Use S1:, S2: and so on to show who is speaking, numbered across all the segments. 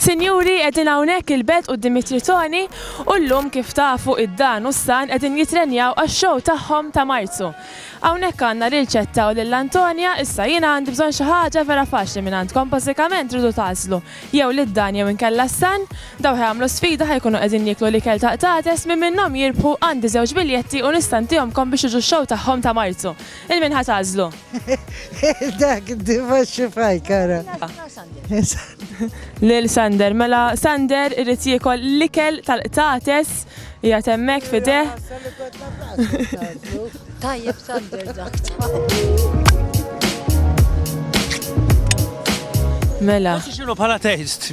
S1: Sinjuri, qegħdin hawnhekk il-belt quddiem it-Tritoni u llum kif tafu id-Dan u s-San qegħdin jittrenjaw għax-show tagħhom ta' Marzu. Hawnhekk għandna lil Ċetta u lil Antonia, issa jiena għandi bżonn xi ħaġa vera faċli mingħandkom, bażikament tridu tagħżlu jew lid-Dan jew inkella s-San, dawn ħa jagħmlu sfida ħa jkunu qegħdin jieklu l-ikel ta' Qtates, min minnhom jirbħu għandi żewġ biljetti u nista' ntihomkom biex tiġu x-show tagħhom ta' Marzu. Lil min ħa tagħżlu?
S2: Dak diva xifaj kara.
S1: Lil Sander, mela Sander irrit jiekol l-ikel tal-qtates jgħat hemmhekk fideh.
S3: Tajjeb Sander dak.
S1: Mela. Xinu bħala
S4: taste?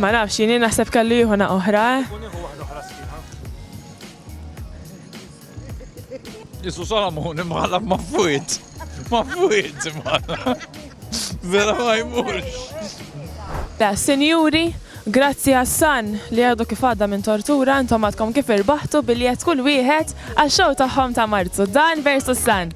S5: Ma
S1: nafx, jini naħseb kellu jieħu naqqa oħra.
S5: Isu Solomon imħalla ma fuit. Ma fuit imħalla. Vera ma jmurx.
S1: Da, senjuri, grazzi għassan li għadu kif għadda minn tortura, intom għadkom kif irbaħtu biljet kull wieħed għax-xew tagħhom ta' Marzu. Dan versus San.